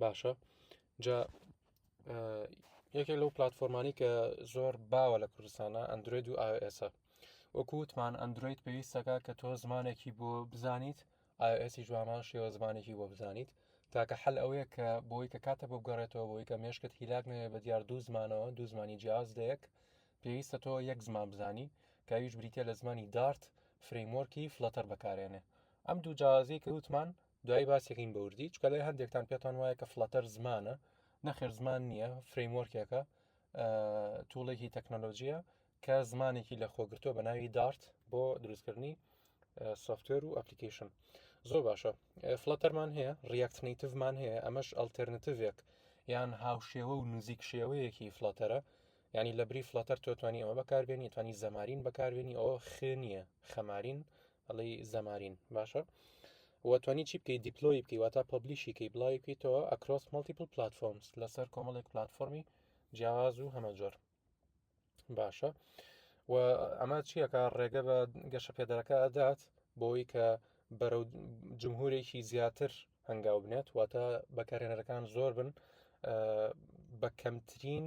باشە جا یەکێک لەو پلتفۆرمانی کە زۆر باوە لە کوردستانە ئەندروید و ئائسە وەکووتمان ئەندروید پێویستەکە کە تۆ زمانێکی بۆ بزانیت ئاسی جووامان شێوە زمانێکی بۆ بزانیت تاکە حل ئەوەیە کە بۆی کە کاتە بگەڕێتەوە بۆی کە مێشکت هیلاک نەوێت بە دیار دوو زمانەوە دوو زمانی جیاز دەیەک پێویستە تۆ یەک زمان بزانی کە ئەویش بریتە لە زمانی دارت فرەیمۆرکی فلەتەر بەکارێنێ ئەم دوو جیازی کە وتمان دوای باسیەکەین بەوردی چکە لای هەندێکتان پێتان وایە کە فلەتەر زمانە نەخێر زمان نییە فرەیمۆرکێکە توڵێکی تەکنەلۆژیە کە زمانێکی لە خۆگرتووە بە ناوی دارت بۆ دروستکردنی سوفتێر و ئەپلیکیشن زۆر باشە فلەتەرمان هەیە ڕاکتنیتڤمان هەیە ئەمەش ئەلتەرنتیڤێک یان هاوشێوە و نزیک شێوەیەکی فلەتەرە یعنی لە بری فلاتەر تۆ توانی ئەوە بەکاربێنی توانی زەمارین بەکاربێنی ئەوە خێنیە خەمارین ئەڵی زەمارین باشە وتوانی چی بکەیت دیپلۆی بکەی واتا پبلیشیکەی بڵاوی بکەیتەوە ئەکرۆس مەڵتیپل پلتفۆمس لەسەر کۆمەڵێک پلتفۆمی جیاواز و هەمە جۆر باشە و ئەمە چیەکە ڕێگە بە گەشە پێدەەکە ئەدات بۆی کە بەرەو جمهورێکی زیاتر هەنگاو بنێت واتە بەکارێنەرەکان زۆر بن بە کەمترین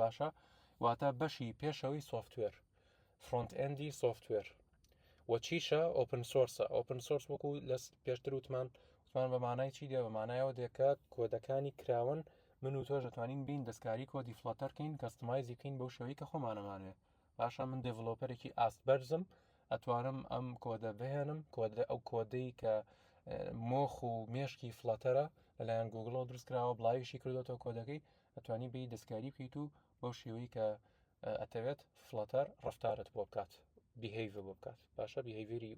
باشە واتە بەشی پێشەوەی سوفتوێر فرۆنت ئەندی سوفتوێر و چیشە ئۆپن سۆرسە ئۆپن سۆرس وەکو لە پێشتر وتمان وتمان بەمانای چی دێ بەمانایەوە دێکە کۆدەکانی کراون من و تۆش دەتوانین بین دەستکاری کۆدی فلاتەرکەین کەستمایزی بکەین بەو شێوەی کە خۆمانەمانێ باشە من دڤلۆپەرێکی ئاست بەرزم ئەتوانم ئەم کۆدە بهێنم کۆدە ئەو کۆدەی کە مۆخ و مێشکی فلاتەرە لەلایەن گوگڵەوە دروستکراوە بڵاویشی کردوەوە کۆدەکەی ئەتوانی بی دەستکاری بکەیت و بەو شێوەی کە ئەتەوێت فلاتەر ڕفتارت بۆ بکات بهیڤ بۆ بکات باشە بهیڤری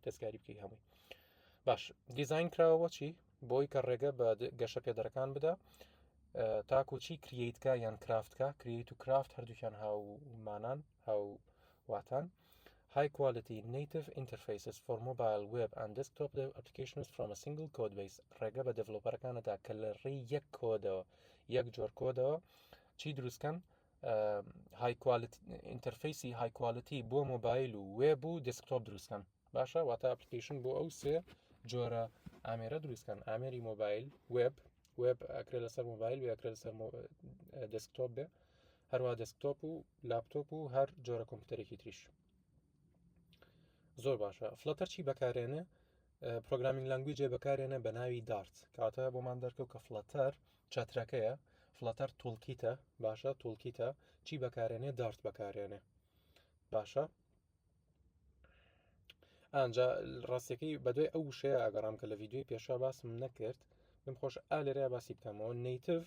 دەستکاری بکەی هەمووی باش دیزین کراوە چی بۆی کە ڕێگە بە گەشە پێدەرەکان بدا تاکوچی کریتکە یان کرافتکە کریت و کرافت هەردووکیان هاومانان هاو واتان High Quality Native Interfaces for Mobile, Web, and Desktop Applications from a Single Codebase ڕێگە بە دێڤلۆپەرەکان دەدا کە لە ڕێی یەک کۆدەوە یەک جۆر کۆدەوە چی دروستکەن های ئینتەرفیسی های کوالتی بۆ مۆبایل و وێب و دسکتۆپ دروستکەن باشە واتە ئەپلیکیشن بۆ ئەو سێ جۆرە ئامێرە دروستکەن ئامێری مۆبایل وێب وێب ئەکرێت لەسەر مۆبایل وێکرێت لەسەر دسکتۆپ بێ هەروە دەسکتۆپ و لاپتۆپ و هەر جۆرە کۆمپیوتەرێکی تریش زۆر باشە فلتەر چی بەکارێنە پرۆگرامین لەنگوی جێ بەکارێنە بە ناوی دارت کاتە بۆمان دەرکەوت کە فلتەر چەترەکەیە فلتەر تولکیتە باشە تولکیتە چی بەکارێنێ دارت بەکارێنێ باشە ئەجا ڕاستەکەی بەدوای ئەو وشەیە ئەگەڕام کە لە یددیوی پێشا باسم نەکرد من خۆش ئالێرە باسی بکەمەوە نیتف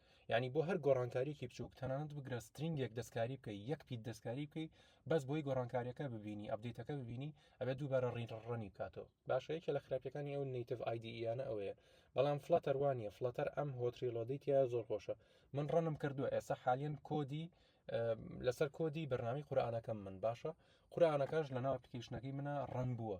یعنی بۆ هەر گۆڕانکاریکی بچووک تەنانەت بگرە سترینگێک دەستکاری بکەی یەک پیت دەستکاری بکەی بەس بۆی گۆڕانکاریەکە ببینی ئەبدەیتەکە ببینی ئەبێت دووبارە ڕینڕڕنی بکاتەوە باشە یەکێ لە خراپەکانی ئەو نیتف ئایدییانە ئەوەیە بەڵام فلەتەر وانە فلەتەر ئەم هۆتریلۆدیتیا زۆر خۆشە من ڕەنم کردووە ئێستا حالیان کۆدی لەسەر کۆدی بەرنامی قورآانەکەم من باشە قورآانەکەش لە ناو پلیکیشنەکەی منە ڕەن بووە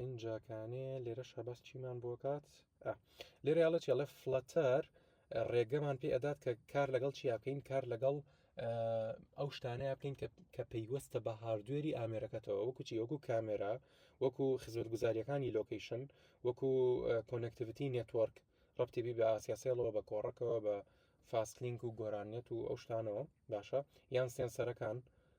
ئینجاکانێ لێرە شەباس چیمان بۆ کات لێرە یاڵە چێڵە فلەتەر ڕێگەمان پێ ئەدات کە کار لەگەڵ چیا بکەین کار لەگەڵ ئەو شتانەیە بکەین کە پەیوەستە بە هاردوێری ئامێرەکەتەوە وەکو چی وەکو کامێرا وەکو خزمەت گوزاریەکانی لۆکیشن وەکو کۆنەکتیڤتی نێتوەرک ڕپتیبی بە ئاسیاسێڵەوە بە کۆڕەکەەوە بە فاسلینک و گۆرانیت و ئەو شتانەوە باشە یان سێنسەرەکان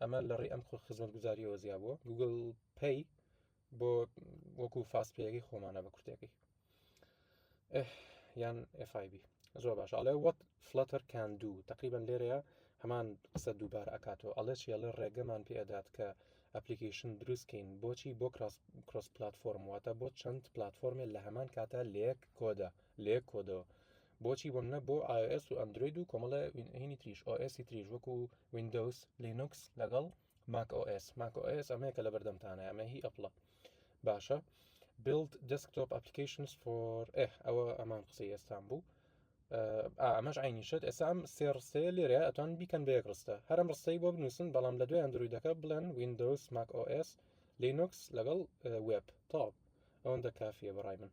ئەمە لە ڕێ ئەم خۆ خزمەت گوزاریەوە زیابووە گوگل پێی بۆ وەکو فاست پێەکەی خۆمانە بە کورتەکەی یان FIB زۆر باش ئەڵێ وەت فلتەر کان دوو تقریبان لێرەیە هەمان قسە دووبار ئەکاتەوە ئەڵێ چێڵێ ڕێگەمان پێدات کە ئەپلیکیشن دروستکەین بۆچی بۆ کرۆس پلتفۆرم واتە بۆ چەند پلتفۆرمێ لە هەمان کاتە لەیەک کۆدە لێک کۆدەوە بۆچی بۆ منە بۆ ئایس و ئەندروید و کۆمەڵە هینی تریش ئۆسی تریش وەکو وینندەوس لینوکس لەگەڵ ماک ئۆس ماک ئۆس ئەمەیە کە لە بەردەمتانە ئەمە هی ئەپڵە باشە بلد دەسکتۆپ ئەپلیکیشنس فۆر ئەوە ئەمان قسەی ئێستان بوو ئەمەش عینیشت ئێسام سێڕسێ لێرە ئەتوان بیکەن بە یەک ڕستە هەرم ڕستەی بۆ بنووسن بەڵام لە دوای ئەندرویدەکە بڵێن وینندەوس ماک ئۆس لینوکس لەگەڵ وێب تاو ئەوەندە کافیە بەڕای من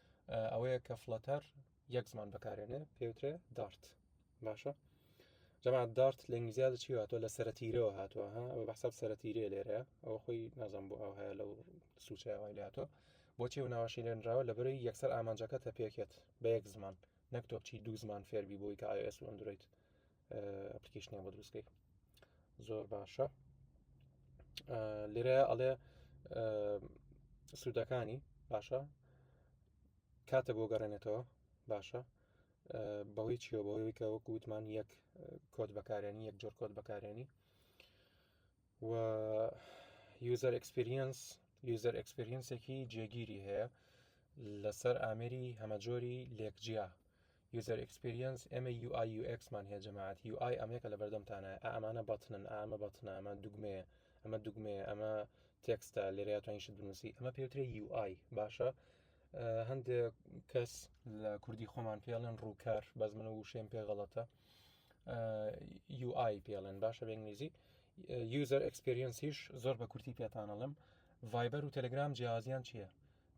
ئەوەیە کە فلەتەر یەک زمان بەکارێنێ پێوترێ دارت باشە جەما دارت لە ئینگلیزیادە چی هاتووە لە سەرەتیرەوە هاتووە ها ئەوە بەحساب سەرەتیرێ لێرە ئەوە خۆی نازان بۆ ئەو هەیە لەو سوچەوەی لاتۆ بۆچی و ناوەشی لێنراوە لە بەرەی یەکسەر ئامانجەکە تە پێکێت بە یەک زمان نەکتۆ بچی دوو زمان فێربی بۆی کە ئایس و ئەندرویت ئەپلیکیشنیان بۆ دروستکەی زۆر باشە لێرە ئەڵێ سوودەکانی باشە کاتە بۆ گەڕێنێتەوە باشە بەوەی چیەوە بەوەی کە وەکو وتمان یەک کۆت بەکارێنی یەک جۆر کۆت بەکارێنی و یوزەر ئەکسپریەنس یوزەر ئەکسپریەنسێکی جێگیری هەیە لەسەر ئامێری هەمەجۆری لێکجیا یوزەر ئێکسپیریەنس ئێمە یو ئای یو ئێکسمان هەیە جەماعەت یو ئای ئەمەیەکە لە بەردەمتانایە ئا ئەمانە بەتنن ئا ئەمە بەتنە ئەمە دوگمەیە ئەمە دوگمەیە ئەمە تێکستە لێرەیە توانین شت بنووسی ئەمە پێوترێ یو ئای باشە هەندێک کەس لە کوردی خۆمان پێڵێن ڕووکار بەس من و وشێن پێ غەڵەتە یو ئای پێڵێن باشە بە ئینگلیزی یوزەر ئەکسپریەنسیش زۆر بە کورتی پێتانەڵم ڤایبەر و تەلگرام جیازیان چییە؟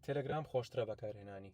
تەلگرام خۆشترە بەکارهێنانی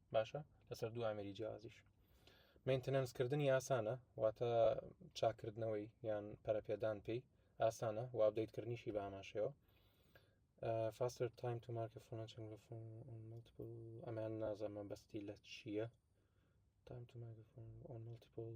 باشە لەسەر دوو ئامری جیازیش مینتەنەنسکردنی ئاسانە واتە چاکردنەوەی یان پەرەپێدان پێی ئاسانە و ئابدەیتکردنیشی باماشەوە فاستر تایم تو مارکە ئەمان نازەمە بەستی لە چییە تایم تو مارکە ئۆن ملتیپل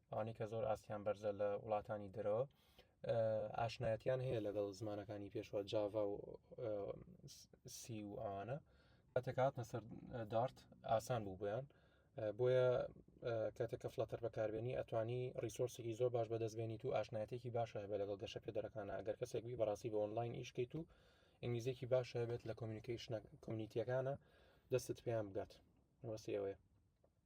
ئەوانەی کە زۆر ئاستیان بەرزە لە وڵاتانی دەرەوە ئاشنایەتیان هەیە لەگەڵ زمانەکانی پێشوە جاڤا و سی و ئەوانە ئەتەکاتە سەر دارت ئاسان بوو بۆیان بۆیە کاتێککە فلاتەر بەکاربیێنی ئەتوانی ریسۆرسێکی زۆر باش بەدەستبێنیت و ئاشنایەتێکی باش هەیە لەگەڵ گەشە پێدەرەکانە ئەگەر کەسێک بی بەڕاستی بە ئۆنلاین ئیشکەیت و ئینگلیزیەکی باش هەبێت لە کۆمیونیکیشنە کۆمیونیتیەکانە دەستت پێیان بگات وەسیەوەیە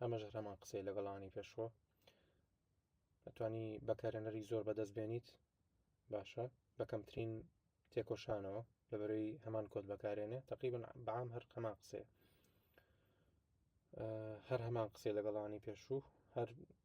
ئەمەش هەمان قسەی لەگەڵانی پێشوە ئەتوانی بەکارێنەری زۆر بەدەست بێنیت باشە بەکەمترین تێکۆشانەوە لەبەرەی هەمان کۆت بەکارێنێ تقریبن بەام هەر هەمان قسەیە هەر هەمان قسەی لەگەڵانی پێشوو هەر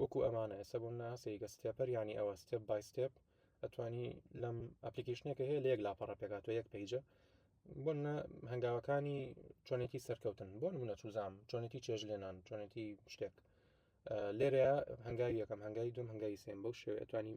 وەکو ئەمانە ئێستا بۆ منە سەیگە ستێپەر ینی ئەوە ستێپ بای ستێپ ئەتوانی لەم ئەپلیکیشنێکە هەیە لە یەک لاپەڕە پێکاتوە یەک پیجە بۆ منە هەنگاوەکانی چۆنێتی سەرکەوتن بۆ منە چوزام چۆنێتی چێژ لێنان چۆنێتی شتێک لێرەیە هەنگاوی یەکەم هەنگای دوم هەنگای سێم بەو شێوێتوانی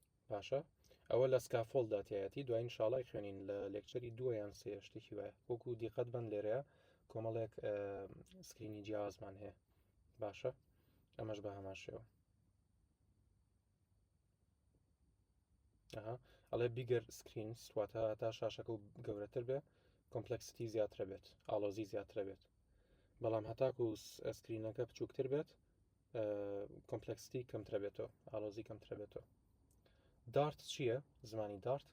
باشە ئەوە لە سکافۆل داتایەتی دوای انشاءڵی خوێنین لە لێکچەری دووە یان سێ شتێکی وایە وەکو دیقەت بن لێرەیە کۆمەڵێک سکرینی جیازمان هەیە باشە ئەمەش بە هەمان شێوە ئەڵێ بیگەر سکرین سواتە تا شاشەکە و گەورەتر بێ کۆمپلکسیتی زیاترە بێت ئالۆزی زیاترە بێت بەڵام هەتاکو سکرینەکە بچووکتر بێت کۆمپلکستی کەمترە بێتەوە ئالۆزی کەمترە بێتەوە دارت چییە زمانی دارت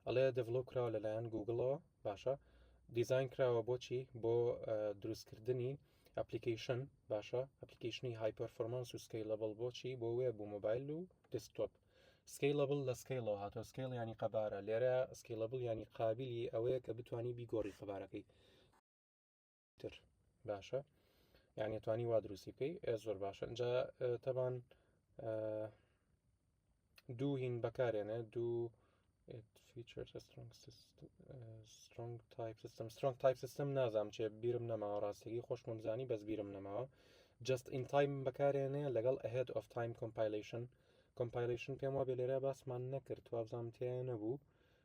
ئەڵێ دەڤڵۆ کراوە لەلایەن گوگڵەوە باشە دیزین کراوە بۆچی بۆ دروستکردنی ئەپلیکیشن باشە ئەپلیکیشنی هایپەرفۆرمانس و سکەی لەبڵ بۆچی بۆ وێ بوو مۆبایل و دەستۆپ سکەی لەبڵ لە سکەیڵەوە هاتۆ سکەیڵ ینی قەبارە لێرە سکەیلەبڵ ینی قابلی ئەوەیە کە بتانی بیگۆڕی قەبارەکەی تر باشە یعنی توانی وا دروستی بکەی ئێ زۆر باشە جا تەبان دوو هین بەکارێنە دوو سترنگ تایپ سیستم سترنگ تایپ سیستم نازام چێ بیرم نەماوە ڕاستەکەی خۆشمم زانی بەس بیرم نەماوە جست ئین تایم بەکارێنێ لەگەڵ ئەهێت ئۆف تایم کۆمپایلیشن کۆمپایلیشن پێم وا بێ لێرە باسمان نەکرد وابزانام تیان نەبوو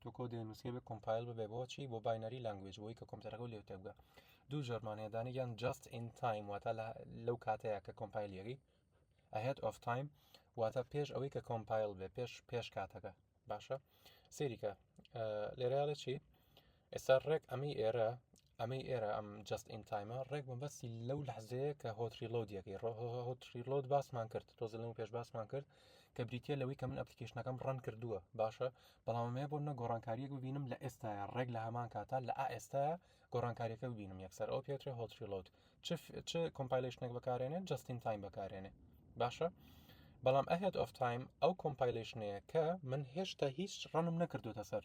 تۆ کۆدی نوسکەی بە کۆمپایل ببێ بۆ چی بۆ باینەری لانگوێج بۆی کە کۆمپیوتەرەکە لێو تێبگە دوو جۆرمانەیە دانێکیان جاست ئین تایم واتە لەو کاتەیە کە کۆمپایلیەکەی ئەهێت ئۆف تایم واتە پێش ئەوەی کە کۆمپایل بێ پێش پێش کاتەکە باشە سێریکە لێرەڵێ چی ئێستا ڕێک ئەمەی ئێرە ئەمەی ئێرە ئەم جەست ئین تایمە ڕێک مەبەستی لەو لەحزەیە کە هۆت ڕیلۆدیەکەی هۆت ڕیلۆد باسمان کرد تۆزە لەمە پێش باسمان کرد کە بریتە لەوەی کە من ئەپلیکیشنەکەم ڕەن کردووە باشە بەڵامەیە بۆ منە گۆڕانکاریەک ببینم لە ئێستا ڕێک لە هەمان کاتا لە ئێستا گۆڕانکاریەکە ببینم یەکسەر ئەو پێترێ هۆت ڕیلۆد چ کۆمپایلشنێک بەکارێنێ جستین تایم بەکارێنێ باشە بەڵام ئەهێت ئۆف تایم ئەو کۆمپایلشنەیە کە من هێشتا هیچ ڕەنم نەکردوتە سەر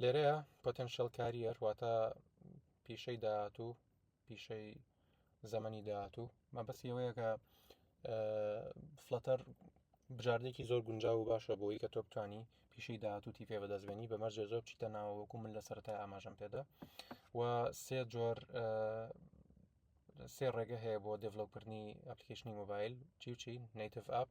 لێرەیە پۆتەنشل کاریەر واتە پیشەی داهاتوو پیشەی زەمەنی داهاتوو مەبەستی ئەوەیە کە فلەتەر بژاردێکی زۆر گونجاو و باشە بۆی کە تۆ بتانی پیشەی داهاتوو تیفێ بەدەستبێنی بە مەرجێ زۆر چیتە ناوەکو من لە سەرای ئاماژەم پێدا و سێ جۆر سێ ڕێگە هەیە بۆ دڤلوکردنی ئەپلیکیشنی مۆبایل چی و چی نیتف ئاپ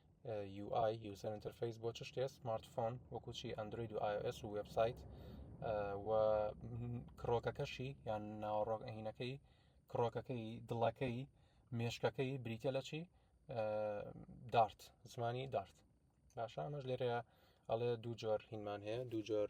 UI User Interface بۆ چ شتێ سمارتفۆن وەکو چی ئەندروید و iOS و وبسایت و کڕۆکەکەشی یان ناوەڕۆک ئەهینەکەی کڕۆکەکەی دڵەکەی مێشکەکەی بریتە لە چی دارت زمانی دارت باشە ئەمەش لێرەیە ئەڵێ دوو جۆر هینمان هەیە دوو جۆر